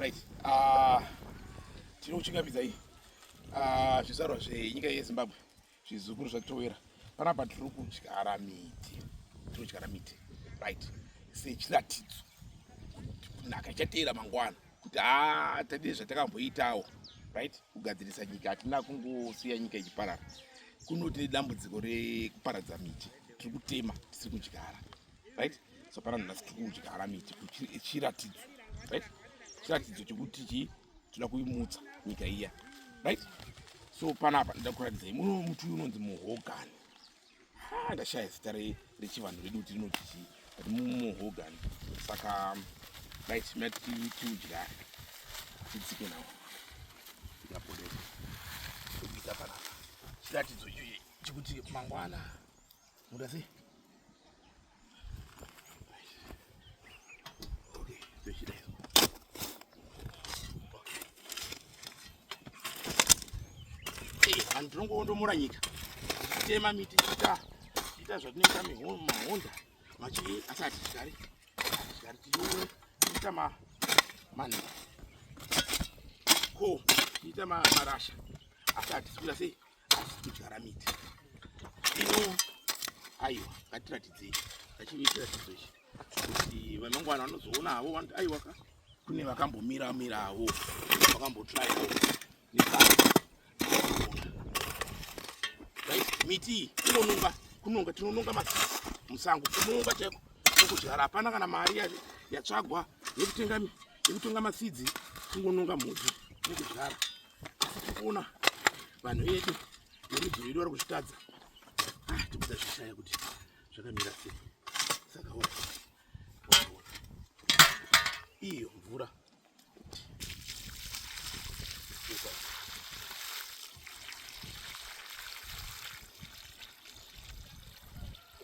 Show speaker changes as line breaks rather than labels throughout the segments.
Right. Uh, tiri kuchingamidza iyi uh, zvizvarwa zvenyika yezimbabwe zvizukuru zvatitowera panapa tiri kudyara miti tiri kudyara miti right sechiratidzo kunaka ichateera mangwana kuti a ah, tadii zvatakamboitawo right kugadzirisa nyika hatina kungosiya nyika ichiparara kunoti nedambudziko rekuparadza miti tiri kutema tisiri kudyara right so pana nhasi tiri kudyara miti chiratidzo right chiratidzo chekuti chii toda kuimutsa nyika iya right so panapa ndoda kuratidzai muno muti uyu unonzi muhogani ha ndashaya zita rechivanhu redu kuti rinoti chii but muhogani saka right mati tiudyare tidzike nawo yapodesa tokuita panapa chiratidzo ichochi chekuti mangwana Muda sei? Okay, tochida izo. Okay. Eh, vanhu tinongoondomora nyika. Tema miti chita chita zvatinoita mahonda machii asi hatichigari hatichigari tione tiita ma mani ko tiita marasha asi hatisi kuita sei kudyara miti ino aiwa ngatiratidzei ngachive chiratidzo ichi kuti vemangwana vanozoona havo vanoti aiwa ka kune vakambomira miravo vakambotraivo miti iyi inonunga kunonga tinonunga ma musango kunonga chaiko okudyara hapana kana mari yatsvagwa yekutenga yekutenga masidzi kungononga mudzi nekudyara Ona vanhu vedu verudzi rwedu vari kuzvitadza ah, tikuda zvishaya kuti zvakamira sei saka iyo mvura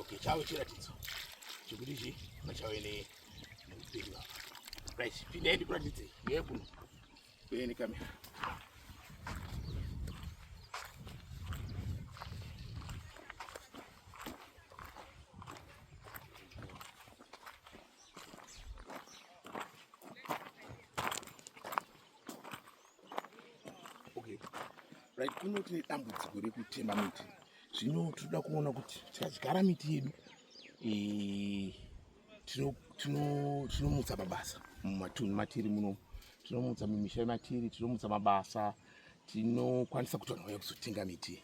okay chave chiratidzo chekuti chi pachave neupenyu apa right pindai ndikuratidze yekuno Uyeni kamera. Right, kuno tine dambudziko rekutema miti zvino tinoda kuona kuti tikazigara miti yedu eh, tinomutsa mabasa mumatunhu matiri muno tinomutsa mumisha yematiri tinomutsa mabasa tinokwanisa kuti vanhu vauya kuzotenga miti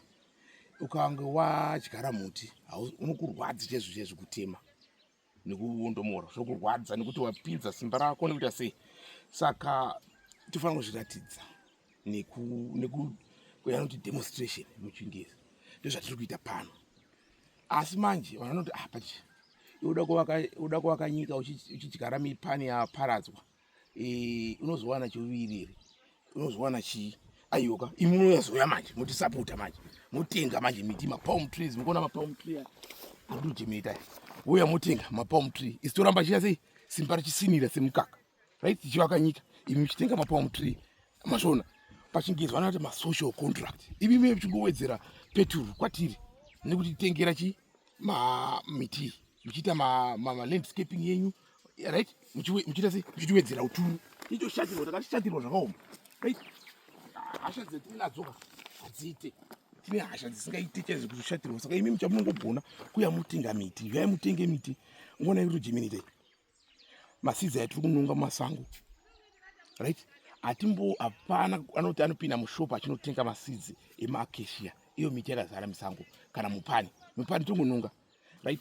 ukange wadyara muti unokurwadzi chezvo chezvo kutema nekuondomora zvokurwadza nekuti wapinza simba rako nekuita sei saka tofanira kuzviratidza nekunoti demonstration muchingezi ndozvatiri kuita pano asi manje vanhu vanoti apa ah, chii uda kuvaka nyika uchidyara mipani yaparadzwa e, unozowana chiuviriri unozowana chii aiyoka imi munoyazoya manje motisapota manje motenga manje miti mapalm trees mukuona mapalm tree arikutojemeta uya motenga mapalm tree isitoramba chiya sei simba richisinira semukaka right tichivaka nyika imi muchitenga mapalm tree masvona pachingezi vanoti masocial contract imi mie muchingowedzera peturu kwatiri nekuti titengera chi mamiti muchiita malandscaping ma, ma yenyu right muchiita se muchitiwedzera uturu icho shatirwa takashatirwa zvakaoma right hasha dzatiinadzoka hadziite tine hasha dzisingaite chaizvo kuzoshatirwa saka imi muchamunongogona kuya mutenga miti yai mutenge miti ngona yekuti jeminitei masidzi atiri kunonga mumasango right hatimbo hapana anoti anopinda mushop achinotenga masidzi emaakeshia iyo miti yakazara misango kana mupani mupani tongononga right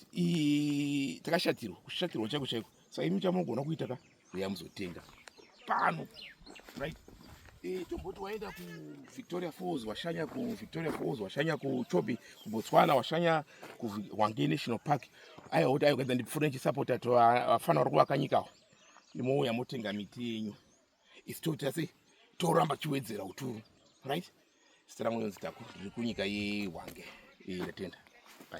takashatirwa kushatirwa chaiko chaiko saka imi chamogona kuita ka uya muzotenga pano right tomboti waenda kuvictoria falls washanya kuvictoria falls washanya kuchobi kubotswana washanya kuhwange national park aiwa kuti aigwenza ndipfure ndichisapota to vafana vari kuvaka nyika awo ndimouya motenga miti yenyu isi toita sei toramba chiwedzera uturu right sita rangu yonzi taku riri kunyika yehwange ii ndatenda bai